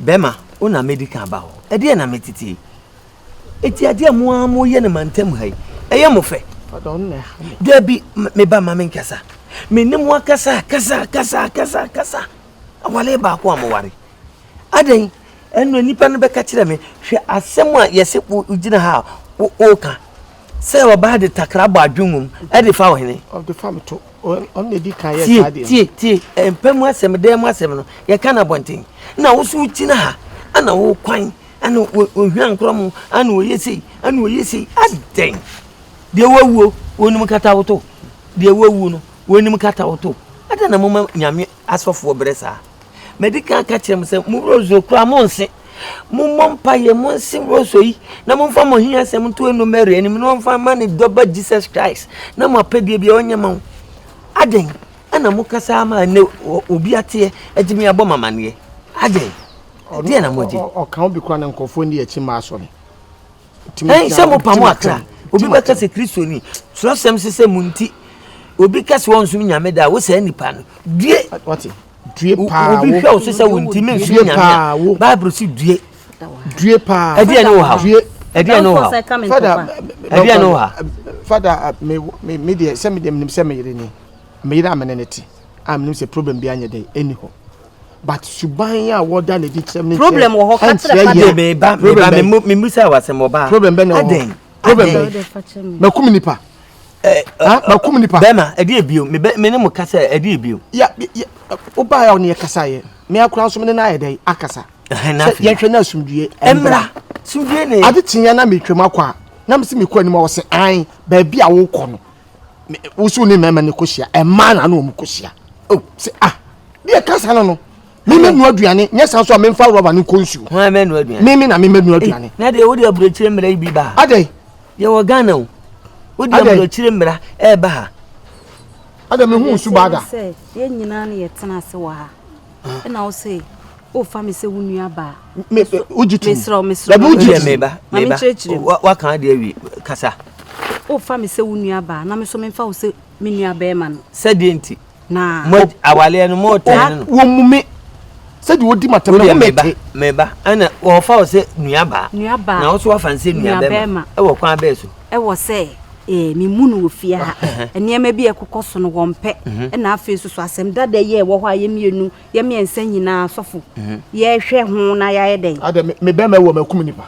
Bɛma wo na mɛdi kan aba hɔ. Ɛdeɛn na meteteɛ yi? Eti adeɛ a mo ara moyɛ no mantam ha yi, ɛyɛ mo fɛ? Dabi, me ba ma menkasa. Me ne mo akasa, kasa, kasa, kasa, kasa. Awale baako a moware. Adɛn? Ɛno nnipa no bɛka kyerɛ me, hwɛ asɛm a yɛse wogyina ha a woka sɛ ɔbaa de takra bɔ adwengum de fa ɔhene. tie tie tie eh, mpɛ mu asɛm dɛn mu asɛm no yɛka no abɔnten na wo so wogyina ha ana wo kwan ana ohwia nkorɔ mu ana ɔyɛ sei ana ɔyɛ sei adɛn deɛ wawuo wɔnim kata woto deɛ wawuo no wɔnim kata woto adɛn na moma nyame asɔfoɔ berɛ saa. Madi kan aka akyerɛ mo sɛ, mo rosuo koraa monnse. Mommɔ mpaeɛ, monse rosuo yi, na momfa mo ahiasɛm nto ɛno Mary anim, na ɔmfa ma ne dɔba Jesus Christ, na mo apɛdeɛ biara ɔnyɛ ma wo. Adɛn ɛna moka saa ma ɛnɛ obi ateɛ agye me abɔ mamaneɛ? Adɛn? Ɛdeɛ na mogye? Ɔka wo bi koraa na nkurɔfoɔ nni akyi mma asɔre. Ɛn sɛ mo pamo akra, obi bɛ kɛsɛ kristo ni, srɔ sɛm se sɛ mo nti, obi kɛsɛ wɔn som nyame da, wo saa nipa no, due, due paa, obi hwɛ wo so sɛ wo nti men som nyame a, bible se due, due paa, ɛdeɛ ne wo ha, due, ɛdeɛ ne wo ha, fada, ɛdeɛ ne wo ha, fada, me, me, me deɛ, sɛ me deɛ, menim sɛ me yere ni, me yere a me ne ne te, a menim sɛ problem bi anyɛ dɛ, ɛni hɔ. but suban a wɔda no adi kyerɛ me problem wɔ hɔ kakyerɛ pa de me ba me ba me mu me mu sɛ wasɛm wɔ ba problem bɛ na wɔ hɔ problem bɛ makum nipa eh, eh, makum nipa bɛma ɛde ebio me bɛ me ne mo kasa ɛde ebio ya ya o ba ya ɔne yɛ kasa yɛ me akora nso me ne na ayɛ dɛ akasa sɛ yɛhwɛ na asumdue ɛmra sumdue ne ade tiɲɛ na metwam akɔ a na me se mekɔ anim a wɔsɛ an baabi a wokɔ no wosu ne mmarima ne kɔhyia ɛmaa na ano wɔn kɔhyia o sɛ ah deɛ kasa no no mímɛ nua aduane nyɛ san so a mímfa rɔba ne nkɔ nsuo hɔn mɛ nua aduane mímɛ na mímɛ nua aduane. na deɛ wode aburokyire mmara yi bi ba ha adɛ yɛ wɔ ghana o wode aburokyire mmara ɛɛba ha adɛ mehu nsu baada. sɛ yɛn nyinaa no yɛtena ase wɔ ha ɛna wo se wofa me sɛ wo nua baa wogye tom mesrɛ mesrɛ wogye tom meba meba waka adeɛ awie kasa wofa me sɛ wo nua baa na me so memfa wo sɛ me nua bɛrima no sɛdeɛ nti na awaleɛ no mɔɔtɛn no wɔmu me sɛdeɛ wɔdi matam no mete meba ɛna wɔfa wo sɛ nua baa nua baa na wo so wafa no sɛ nua bɛrima ɛwɔ kwan bɛɛ so wɔ sɛ memu no wɔ fie ha. Nneɛma bi a ɛkokɔ so no wɔmpɛ. Na afei nso so asɛm dada yi a ɛwɔ hɔ a yɛ mmienu, yɛ mmiɛnsa nyinaa asɔfo yɛhwɛ ho na yɛayɛ dɛn? Adɛ me bɛma ɛwɔ makum nipa.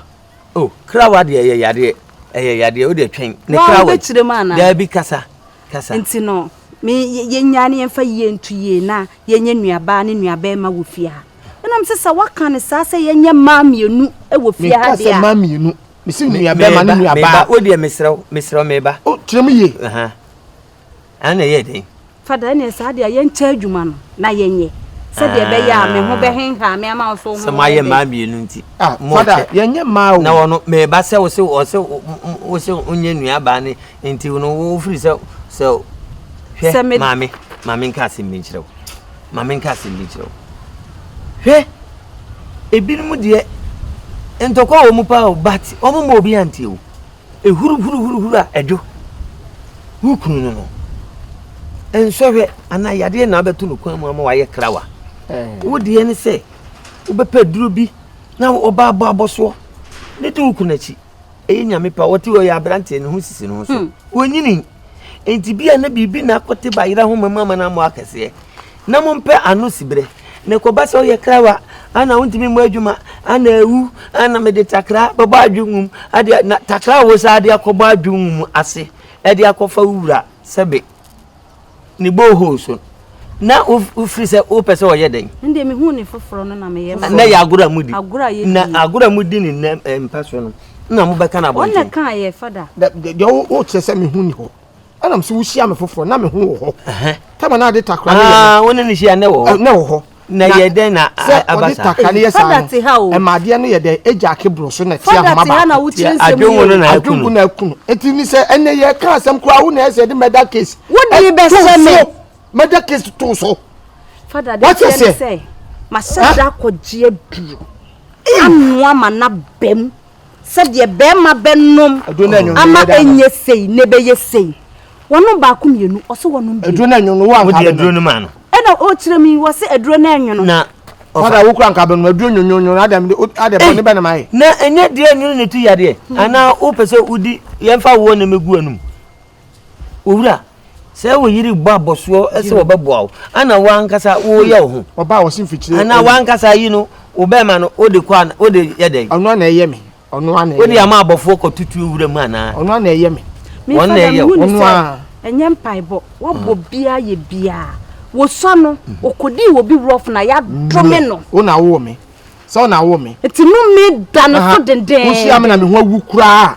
O krawa deɛ ɛyɛ yadeɛ ɛyɛ yadeɛ o deɛ twɛn ne krawa. Wɔn bɛkyerɛ mu anaa? Daabi kasa kasa. Nti no me yɛnya ne yɛmfa yie nto yie na yɛnyɛ nuabaa ne nuabɛrima wɔ fie ha. Ɛnam sɛ sɛ waka ne saa sɛ yɛnyɛ mmaa mmienu wɔ fie ha deɛ a. Meka sɛ mmaa mmienu. mesi nuabɛma ne nuabaa o deɛ mesrɛ wo mesrɛ wo meba o kyerɛ mu yie ɛna ɛyɛ den fada ɛneɛ saa deɛ yɛnkyɛ adwuma no na yɛnyɛ sɛdeɛ ɛbɛyɛ a me ho ah. bɛhenha me ama wo so ho sɛ moayɛ mmaa mmienu nti ah, fada yɛnyɛ mmaa o na wɔno meba sɛ wo se wɔ se wo se wonyɛ nuabaa ne nti no wofiri sɛ sɛ hwɛ maame maame nka asɛm bi nkyerɛ wo maame nka asɛm bi nkyerɛ wo hwɛ ebinom deɛ ntɔkwa wɔ mu paa o but wɔn ma obi antie o ehuru huru huru huru a ɛdwo wo kunu no no nsɔhwɛ anaa yadeɛ na abɛto no kwan mu ama wayɛ krawa wo deɛ ne sɛ wobɛpɛ duro bi na ɔba abɔ abɔsoɔ ne to wo kunu akyi Ɛyɛ nyame pa wɔte ɔyɛ aberanteɛ ne ho sisi ne ho so hmm. wɔnyini nti bia na biribi na akɔte bayera ho mamu ama no ammɔ akɛseɛ na mompɛ ano siberɛ na ɛkɔba sɛ woyɛ krawa ana wontumi mmɔ adwuma ana awu ana mede takra bɛbɔ adwonwum adeɛ na takra a wo saa de akɔbɔ adwonwum ase ɛde akɔfa wo wura sɛbe ne borehole so na wofiri sɛ wopɛ sɛ ɔyɛ dɛn ndeɛ mehu ne foforɔ no na meyɛ ma na yɛ agorɔ a mudi na agorɔ a mudi ne nnɛ eh, mpa so no na mobɛka no abɔnten ɔna kaa yɛ fada deɛ wokyerɛ sɛ mehu ni hɔ ɛnam sɛ wohyia me foforɔ na meho wɔ hɔ tama no ade takora ne yɛ ah, wo ne ne hyia nɛ wɔ hɔ na yɛ dɛn na aba saa fada te ha o ɛma adeɛ no yɛ dɛn egya ake boro so na ti ahoma baako fada te ha na wokyerɛ nsɛm yi o adwongo no na akunu adwongo na akunu eti ni sɛ ɛnɛ yɛ ka asɛm koraa wo na ɛsɛ de mɛda case wodi bɛ sɛ me mɛda case to so fada de kyerɛ ne sɛ mahyɛ da akɔgye aduro anoa ma na bɛm sɛdeɛ bɛɛma bɛnom ama ɛnyɛ sei na ɛbɛyɛ sei wɔnom baako mmienu ɔse wɔnom bi aduro no anwono no wɔanka wode aduro no maa no ɛna ɔkyerɛ mi wɔ se aduro no anwono na fada wokura nka bɛnom aduro nwonwonwono adam adɛ bɔne bɛ na mayɛ na ɛnyɛ deɛ anwono ne tu yadeɛ anaa wopɛ sɛ wodi yɛmfa woɔ na mɛgu anum Owura, sɛ wo yere bɔ abɔsoɔ sɛ wɔbɛboa wo, ana wo ankasa woyɛ wo ho? Ɔbaa wɔsi mfikyire. Ana wo ankasa yi no, wo bɛrima no, wode kɔ ana, wode yɛ dɛn? Ɔno ana ɛyɛ me? Ɔno ana ɛyɛ me? Wode ama abɔfoɔ kɔtutuo wura mu anaa? Ɔno ana ɛyɛ me? Me Wɔn na fada ɛyɛ mehu wo. ne Ɔno sɛ a. ɛnyɛ mpaebɔ wabɔ biaa yɛ biaa wosua no okɔdii wɔ bi rough na yɛadome no Wo na wowɔ me. Sɛ wo na wowɔ me. nti no me da no Aha. to dendeen. Wohyia me na me ho awu koraa a,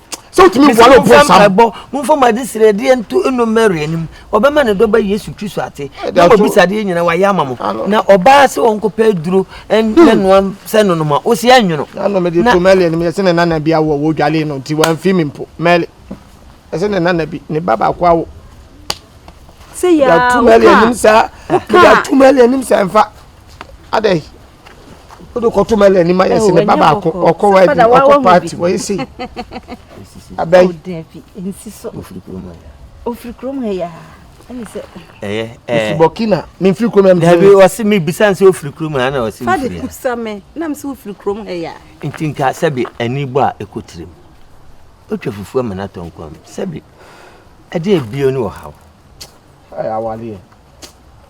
sɛ wotumi mfo ano po nsam. ɛbɔ momfa mo ade srɛ adeɛ nto ɛno mary anim ɔbɛma ne dɔba yesu kristo ate na wɔbisa adeɛ nyina wayɛ ama mo na ɔbaa sɛ ɔnkɔpɛ aduro ne noa sɛ nonoma wo sɛ ɛnwono ano mede to mary anim yɛsɛ ne nana bi awɔ wɔdwale no nti wamfi me mpo mary ɛsɛ ne nana bi ne ba baako awo yɛato mary anim saa yɛato mary anim saa mfa adɛn o de kɔto mɛlɛ ni ma yɛ sɛ ne ba baako ɔkɔ wɔ adi ɔkɔ paati wɔ yɛ sei abɛn. ofiri kurom ha yɛ ɛyɛ ɛɛ burkina mi nfiri kurom ɛmu. dabi ɔsi mi bisa nsi ofiri kurom ha na ɔsi ofiri ya. fadi kusa mi nam si ofiri kurom ha yɛ. nti nka sɛbi ɛni bɔ a ɛkɔ tirim otwa fufuo ama n'atɔ nkwan mu sɛbi ɛdi ebien ni ɔhaw. ɛyà awaleɛ.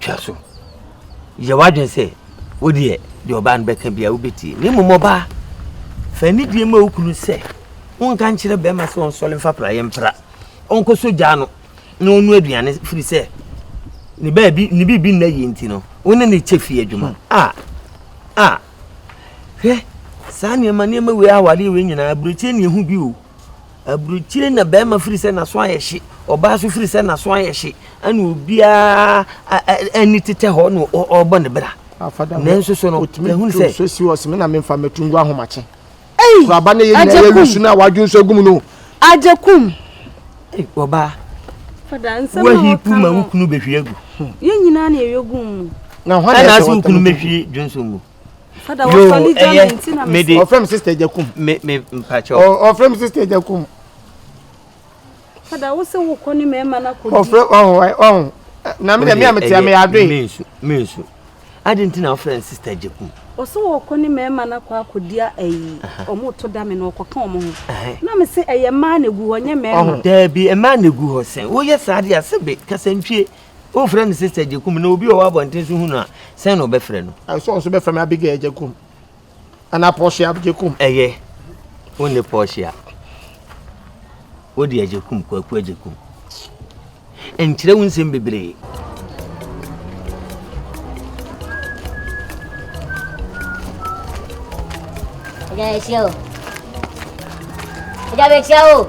twa so. Yɛ w'adwene sɛ wo deɛ deɛ ɔbaa no bɛka biara wobɛtie. Na mmom ɔbaa, fa anidie ma wo kunu sɛ wonka nkyerɛ bɛrima sɛ ɔnsɔre mfa praeɛ mpra, ɔnkɔsɔ gyaa no na ɔno aduane firi sɛ ne baabi ne biribi nna yie nti no wo ne ne kyɛ fie adwuma. A a hwɛ saa nneɛma nneɛma wei awareɛ wei nyinaa aburokyire ne ɛho bi o. Aburukyire na barima firi sɛ n'aso ayɛ hye, ɔbaa nso firi sɛ n'aso ayɛ hye, ɛna obiara ani tetɛ hɔ na ɔrebɔ ne bra. Nanso so no, ɛhunu sɛ. Otumi si hɔ sɛ me na memfa mɛtu ngu ahomakye. Ei! Kuraba ne yɛ nyinaa yɛ wisu no a wadwo nso agum no. Agyakum. Ei, ɔbaa. Fada nsɛm na ɔka no. Wahipu ma wo kunu bɛhwie agu. Yɛn nyinaa na yɛyɛ gum mu. Na hwan na ɛsɛ ɔtɛm gum? Ɛna ase wo kunu mɛhwie dwonso mu. Fada wɔ fa ni jami nti na me. Ɔfrɛ mi sister Jakum. Me me mpakyɛ. Ɔfrɛ mi sister Jakum. Fada wo se wo kɔ ni mɛma na kɔ di. Ɔfrɛ ɔhun ɔhun. Na mi dɛ mi a mi ti a mi yɛ adoe. Mi nsu mi nsu. Adi nti na ɔfrɛ mi sister Jakum. Ɔse wɔ kɔ ni mɛma na kɔ akɔdi ayi. Ɔmo to da mi na ɔkɔ tɔn ɔmo ho. Na mi se ɛyɛ mmaa na egu hɔ nyɛ mɛma. Daabi mmaa na egu hɔ sɛn. Woyɛ saa de a sɛ bi kasantwie Wofrɛ me Sister Agyekum na obi a ɔwɔ abɔnten so hu no a, sɛn na ɔbɛfrɛ no? Ɛsɛ ɔnso bɛfrɛ me Abigail Agyekum anaa Portia Agyekum. Ɛyɛ, wone Portia. Wode Agyekum, Kwaku Agyekum. Nkyerɛ wo nsɛm bebree. Ɛgya ɛhyia o. Ɛgya bɛhyia o.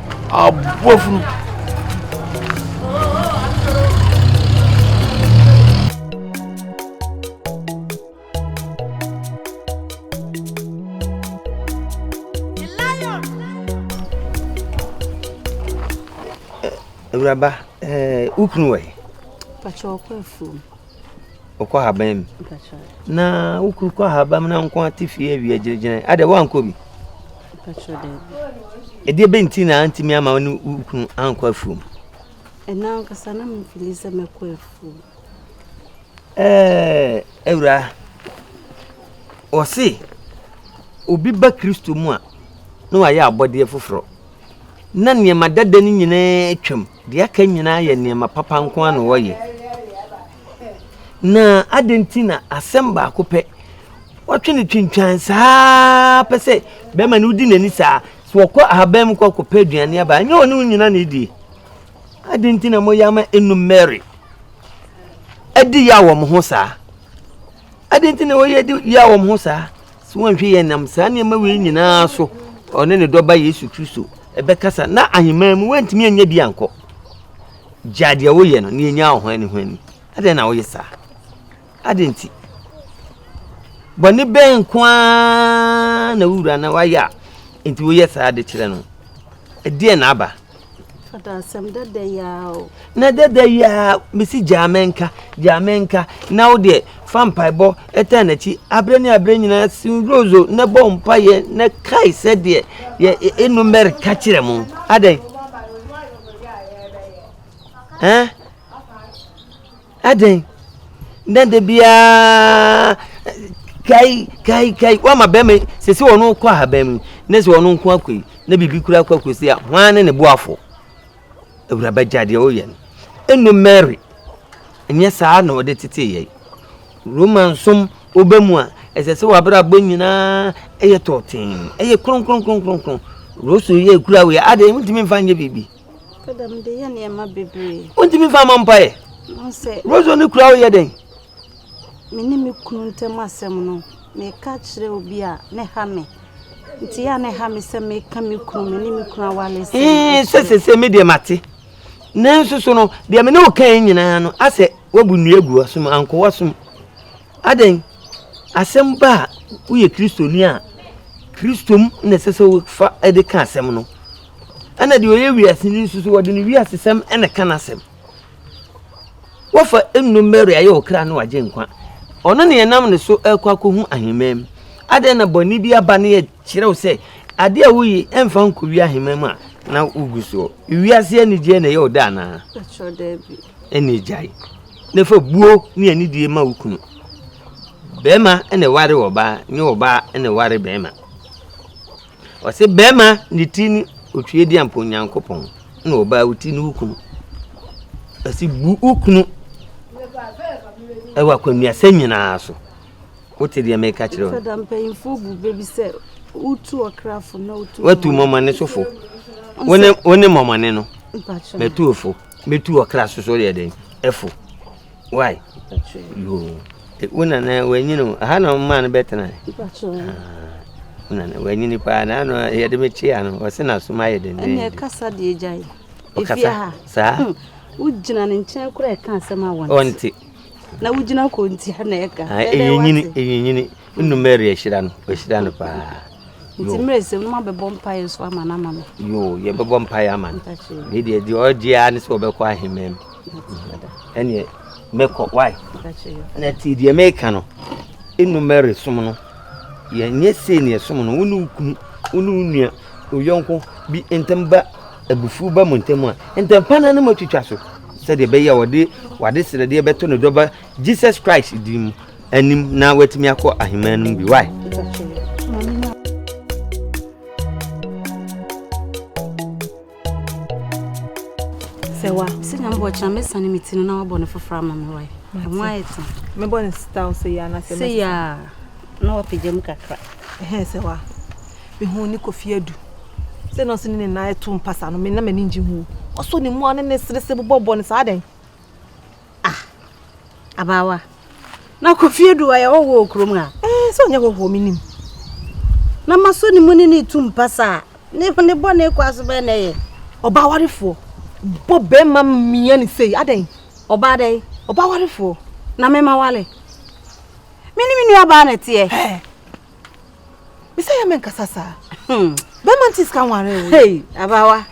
aboafunu. awuraba eh, wokunu wɔ he? pakyɛ ɔkɔ afuom ɔkɔ ahaban mu na wokuru kɔ ahaban mu na nko ate fie awia gyinagyina adɛ woankɔ bi ɛdeɛ bɛ nti na antumi ama ne wokunu ankɔ afuom ɛna ankasa na mefili sɛ mɛkɔ afuom ɛɛ awura ɔse obi ba kristo mu a na wayɛ abɔdeɛ foforɔ na nneɛma dada no nyinaa twam Deɛ aka nyinaa yɛ nneɛma papa nko ara na wɔyɛ. Na adɛn nti na asɛm baako pɛ wɔtwe no twintwan saa pɛ sɛ bɛrima no wodi n'ani saa sɛ wɔkɔ ahaban mu kɔ kɔpɛ aduane aba ɛnyɛ wɔne wo nyina na ɛdie adɛn nti na moyɛ ama ɛnu mary adi yɛ a wɔn ho saa adɛn nti na wɔyɛ di yɛ a wɔn ho saa So wɔnhwɛ yɛ nam saa nneɛma wei nyinaa so ɔne ne dɔba Yesu Kristo ɛbɛkasa na ahemman mu wantumi anya bi ankɔ gya deɛ woyɛ no na yɛnya ɔho ani ho ani adɛn na woyɛ saa adɛn nti bɔne bɛn nko ara na wowura na wayɛ a nti woyɛ saa de kyerɛ no ɛdeɛ na aba Fada asɛm dada yi ara o. Na dada yi ara mesi gyaa me nka gyaa me nka na wo deɛ fa mpaebɔ ɛtaa n'akyi aberɛ ne aberɛ nyinaa si nrozo na bɔ mpaeɛ na kae sɛ deɛ yɛ enu mɛre ka kyerɛ mo adɛn. Eh? Adɛn? Nɛ da biara kai kai kai wama bɛrima yi sese wɔn kɔ ahaban mu ne sɛ wɔn nko akɔ yi na biribi kura akɔ akɔ si a hwan ne ne boafo awuraba gya deɛ ɔyɛ no ɛnu mary ɛnyɛ saa na ɔde tete yɛ roma nsom ɔba mu a ɛsɛ sɛ wabrabɔ nyinaa ɛyɛ tɔɔten ɛyɛ kronkronkronkronkron rosu yɛ kura wei adɛn ntumi mfa nyɛ biribi Kada mede yɛ nneɛma bebree. Wontumi mfa ma mpaeɛ. Rozo ne kura woyɛ dɛn? Me ne me kunu ntam asɛm no, meka kyerɛ obi a ne ha me. Nti yɛ a ne ha me sɛ meka me kunu me ne me kunu awale sɛ. Ee sɛ sɛ sɛ me deɛ mate. Nanso so no deɛ me ne wo kan nyinaa no asɛ wabu nnua gu asom anko wasom. Adɛn? Asɛm ba a, woyɛ Kristoni a, Kristo mu na ɛsɛ sɛ wofa de ka asɛm no. Ɛna deɛ ɔyɛ wiaseni nso so, wɔde ne wiasesɛm na ɛka n'asɛm. Wɔfa nnuro mmɛre ayɛ wo kra ne wagye nkwa. Ɔno ne ɛnam ne so ɛkɔ akɔhu ahemman mu. Adɛn na bɔne bi aba ne yɛkyerɛw sɛ adeɛ a woyi ɛmfa nkɔwie ahemman mu a na wogu soɔ. Wiase anigyeɛ na ɛyɛ wo dɛ anaa? Ɛna gyae. Na fa buo ne anidie ma wo kunu. Bɛrima na ɛware ɔbaa, nyɛ ɔbaa na ɛware bɛrima. Ɔse bɛrima ne ti ne Otwiedeampo Nyankopɔn na ɔbaa wo ti ne wo kunu. Ɔse bu wo kunu ɛwɔ akwannuasɛm nyinaa so. Wote deɛ meka kyerɛ wo. Fada mpanyinfoɔ bu bɛ bi sɛ wotu ɔkrafo na wotu mɔmɔne. Watu mɔmɔne sofo. Wone mɔmɔne no. Mpakyɛ. Matuofo. Bɛtu wɔ kra so so yɛ dɛn? Ɛfo. Why? Yoo. E, wo nana wanyini o. Aha na ɔmaa no bɛtena. Ah, wo nana wanyini paa na ano yɛde me kyea no ɔse na som ayɛ dɛn. Ɛnna ɛkasa deɛ gya yi. Efie ha. Saa. Hmm. Wogyina ne nkyɛn koraa ɛka asɛm a wɔnte. Ɔnte. Na wogyina kɔntia na ɛka. Ah, ɛyɛ nyini, ɛyɛ nyini. Wonu Mary ahyira no, wahyira no paa. Nti mmerɛ sɛ wonum abɛbɔ mpaeɛ nso ama no ama me. Yoo, yɛbɛbɔ mpaeɛ ama no. Ne deɛ deɛ ɔgye ara ne sɛ ɔbɛkɔ ahemman mu. Ɛneɛ mɛkɔ wae. Na ti deɛ meka no, ɛnu Mary som no, yɛnyɛ sei ne ɛsom no, wone wo kunu, wone wo nua, oyɔnko bi ntam ba abufuo ba mu ntam a, ntɛmpa no no matwitwa so sɛdeɛ ɛbɛyɛ a wɔde wade srɛdeɛ bɛto ne dɔba Jesus Christ din mu anim na watumi akɔ aheman no mu bi. Why? Sɛ wa, sɛ nyame bɔ kyerɛ me sane me ti no na wabɔ no foforɔ ama me wae. Ɛho ayɛ te. Mebɔ no style sɛ yɛ anasɛ mɛsɛ. Sɛ yɛ a, na wapagya mu kakra. Ɛhɛn sɛ wa, mehu ne kofi adu. Sɛ na ɔse ne ne nan ɛto mpasa no, me na m'ani ngye ho. Ɔsɔ ne mu a ne ne sere se bobɔ bɔ no saa dɛn? Ah, abaawa. Na kofie du ayɛ hɔ wɔ kurom a. Ɛɛ eh, sɛ ɔnyɛ hɔ hɔ menim. Na masɔ ne mu ne ne tu mpa saa. Ne ne bɔ ne kɔ aso bɛn na ɛyɛ. Ɔbaa warefoɔ bɔ bɛrima mmea ne sei adɛn? Ɔbaa dɛn? Ɔbaa warefoɔ na mema wale. Me ne me nua baa na ɛteɛ. Me sɛ yɛ me nkasa saa. Bɛma nti sika nware wo. Hey, abawa.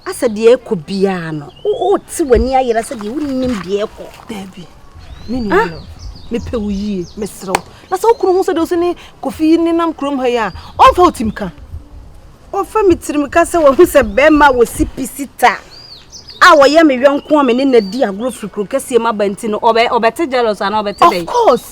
Asɛ deɛ ɛkɔ biara no. O te w'ani ayera sɛ deɛ wonim deɛ ɛkɔ. Dabi. Me nua no. Mepɛ wo yie, mesrɛ wo. Na sɛ wokunu ho sɛ deɛ ɔsɛ ne kofi nenam kurom ha yi a, ɔmfa wo tim ka. Ɔfa me tirim ka sɛ wahu sɛ bɛrima wɔ sipi sita a wɔyɛ me yɔnko a me ne na di agorɔ firi kuro kɛseɛ mu aba nti no ɔbɛte jealous anaa ɔbɛte dɛn? Of course.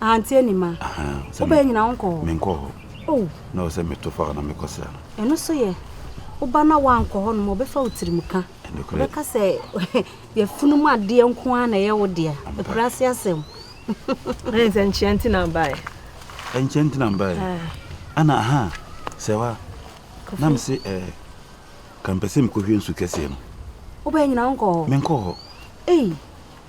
ahante ani ma wobɛyɛ nyina wo nkɔ hɔ menkɔ hɔ oh. na ɔsɛ meto fa hɔ na mekɔsra no ɛno so yɛ woba na woankɔ hɔ nom ɔbɛfa wo tirim ka bɛka sɛ yɛfunu mu adeɛ nko ara na ɛyɛ wo dea ɛkura ase asɛm sɛ nkyea nti na mbaeɛ nkyea nti na mbaeɛ ana aha sɛ wa na mese eh, kampɛ sɛ mekɔhwie nsu kɛseɛ no wobɛyɛ nyina wonkɔ hɔ menkɔ hɔ ei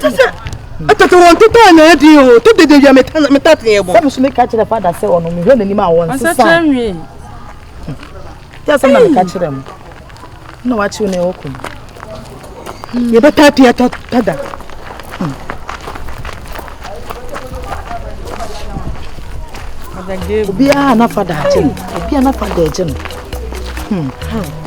sɛ atete wɔn tete a na adi o to dede wia meta teɛ bɔ. sɛbi so mi ka kyerɛ fada sɛ ɔno mi hwɛ n'anim a wɔn sisan. ɔsɛ kyerɛ nwi. tí a sɛ na mi ka kyerɛ mu na wa kyew na ɛwɔ kɔn. yɛ bɛ ta teɛ tɔ tada. obiara na fada agye no obiara na fada agye no. Hmm. Hmm.